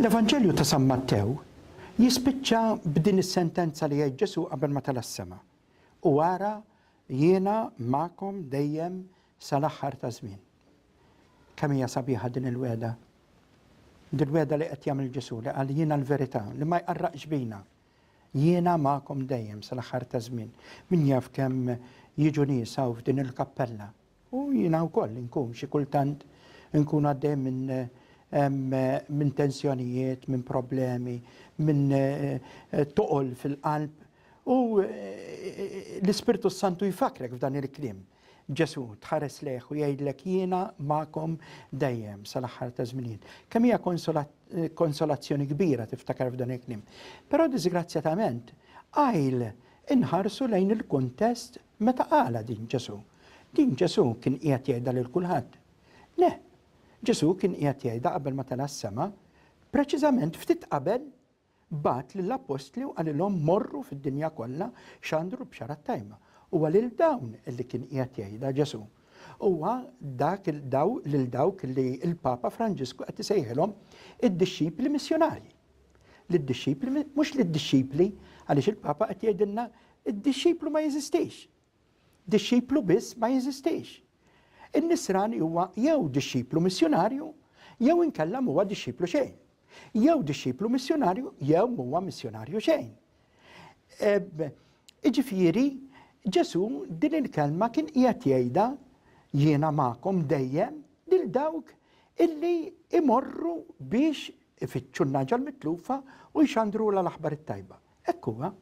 L-Evanġelju ta' San Mattew jispiċċa b'din is-sentenza li jgħid Ġesù qabel ma tela' s-sema, U ara, jiena magħkom dejjem sal-aħħar taż-żmien. Kemm hija sabiħa din il-wegħda! Din wegħda li qed jagħmel Ġesù li qal jiena l-verità li ma jqarraqx bina. Jiena magħkom dejjem sal-aħħar taż-żmien. Min jaf kemm jiġu nies hawn f'din il-kappella U jiena wkoll inkun xi kultant inkun għaddej minn tensjonijiet, minn problemi, minn toqol fil-qalb u l-Ispirtu s-Santu jfakkrek f'dan il-kliem. Ġesù tħares lejh u jgħidlek jiena magħkom dejjem sal-aħħar taż-żminijiet. Kemm hija konsolazzjoni kbira tiftakar f'dan il-kliem. Però diżgrazzjatament qajl inħarsu lejn il-kuntest meta qalha din Ġesù. Din Ġesù kien qiegħed jgħidha lil kulħadd? Le. Ġesù kien qiegħed jgħidha qabel ma tela' s-sema, preċiżament ftit qabel bagħat lill-appostli u qalilhom morru fid-dinja kollha xandru l-Bxara t-Tajba. Huwa lil dawn li kien qiegħed jgħidha Ġesù. Huwa dak daw lil dawk li l-Papa Franġisku qed isejħilhom id-dixxipli missjunarji. Lid-dixxipli mhux lid-dixxipli għaliex il-Papa qed jgħidilna d-dixxiplu ma jeżistix. Dixxiplu biss ma jeżistix. In-nisrani huwa jew dixxiplu missjunarju jew inkella m'huwa dixxiplu xejn. Jew dixxiplu missjunarju jew m'huwa missjunarju xejn. Iġifieri Ġesù din il-kelma kien qiegħed jgħidha jiena magħkom dejjem lil dawk illi imorru biex ifittxu n-nagħġa l-mitlufa u jxandrulha l-aħbar it-tajba. Hekk huwa.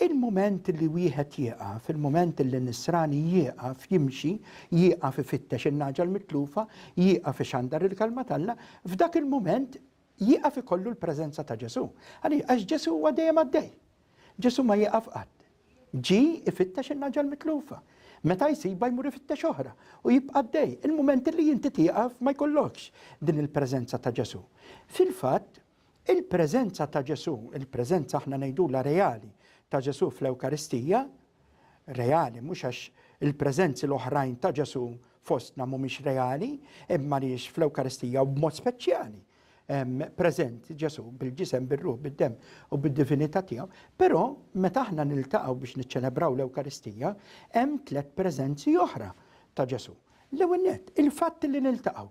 Il-mument li wieħed jieqaf, il-mument li nisrani jieqaf jimxi, jieqaf ifittex in-nagħġa l-mitlufa, jieqaf ixandar il-Kelma t'Alla, f'dak il-mument jieqaf ikollu l-preżenza ta' Ġesù. Għaliex? Għax Ġesù huwa dejjem għaddej. Ġesù ma jieqaf qatt. Ġie ifittex in-nagħġa l-mitlufa. Meta jsibha jmur ifittex oħra u jibqa' għaddej. Il-mument li inti tieqaf ma jkollokx din il-preżenza ta' Ġesù. Fil-fatt, Il-preżenza ta' Ġesù, il-preżenza aħna ngħidulha reali ta' Ġesù fl-Ewkaristija, reali mhux għax il-preżenzi l-oħrajn ta' Ġesù fostna mhumiex reali, imma li fl-Ewkaristija u b'mod speċjali preżent Ġesù bil-ġisem, bil-ruħ, bid-dem u bid-divinità tiegħu, però meta aħna niltaqgħu biex niċċelebraw l-Ewkaristija, hemm tliet preżenzi oħra ta' Ġesù. L-ewwel nett, il-fatt li niltaqgħu.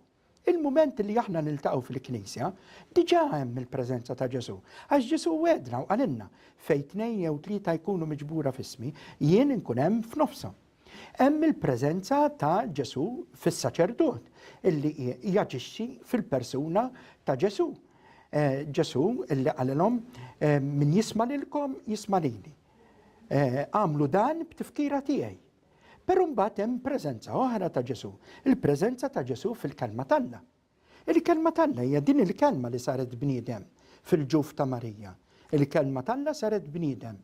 Il-mument li aħna niltaqgħu fil-Knisja, diġà hemm il-preżenza ta' Ġesù, għax Ġesù wegħdna u qalilna, Fejn tnejn jew tlieta jkunu miġbura f'ismi, jien inkun hemm f'nofshom. Hemm il-preżenza ta' Ġesù fis-saċerdot, illi jaġixxi fil-persuna ta' Ġesù. Eh, Ġesù illi qalilhom, eh, min jisma' lilkom jisma' lili. Eh, għamlu dan b'tifkira tiegħi. Però mbagħad hemm preżenza oħra ta' Ġesù, il-preżenza ta' Ġesù fil-Kelma t'Alla. Il-Kelma t'Alla hija din il-Kelma li saret bniedem fil-ġuf ta' Marija. Il-Kelma t'Alla saret bniedem,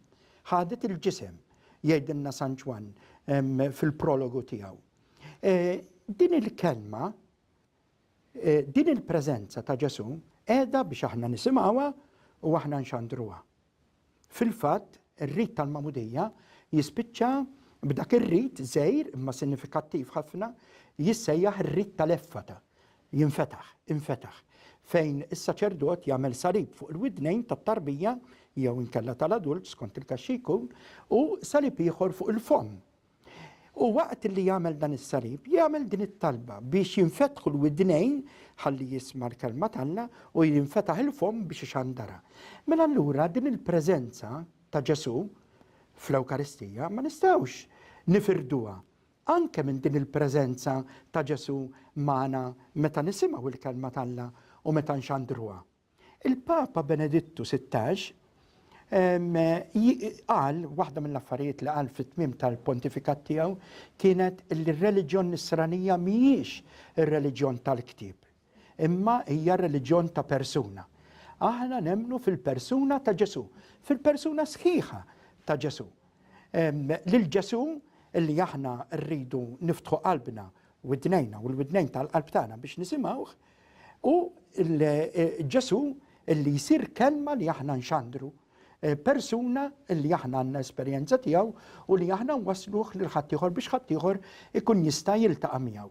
ħadet il-ġisem, jgħidilna San Ġwann fil-prologu tiegħu. E, din il-kelma, e, din il-preżenza ta' Ġesù qiegħda biex aħna nisimgħuha u aħna nxandruha. Fil-fatt, ir-rit tal-magħmudija jispiċċa b'dak ir-rit żgħir imma sinifikattiv ħafna jissejjaħ ir-rit tal-effata, jinfetaħ, infetaħ, fejn is-saċerdot jagħmel salib fuq il-widnejn tat-tarbija jew inkella tal-adult skont il-każ xi jkun u salib ieħor fuq il-fomm U waqt li jagħmel dan is-salib, jagħmel din it-talba biex jinfetħu l-widnejn ħalli jisma' l-kelma t'Alla u jinfetaħ il-fomm biex ixandarha. Mela allura din il-preżenza ta' Ġesù fl-Ewkaristija ma nistgħux nifirduha. Anke minn din il-preżenza ta' Ġesù magħna meta nisimgħu l-kelma t'Alla u meta nxandruha. Il-Papa Benedittu Sittax qal, waħda mill-affarijiet li qal fit-tmiem tal-pontifikat tiegħu kienet li r-reliġjon Nisranija mhijiex ir-reliġjon tal-ktieb, imma hija reliġjon ta' persuna. Aħna nemmnu fil-persuna ta' Ġesù, fil-persuna sħiħa ta' Ġesù. Lil Ġesù li aħna rridu niftħu qalbna widnejna u l-widnejn tal-qalb tagħna biex nisimgħuh, U Ġesù li jsir kelma li aħna nxandru, persuna li aħna għandna esperjenza tiegħu u li aħna nwassluh lil ħaddieħor biex ħaddieħor ikun jista' jiltaqa' miegħu.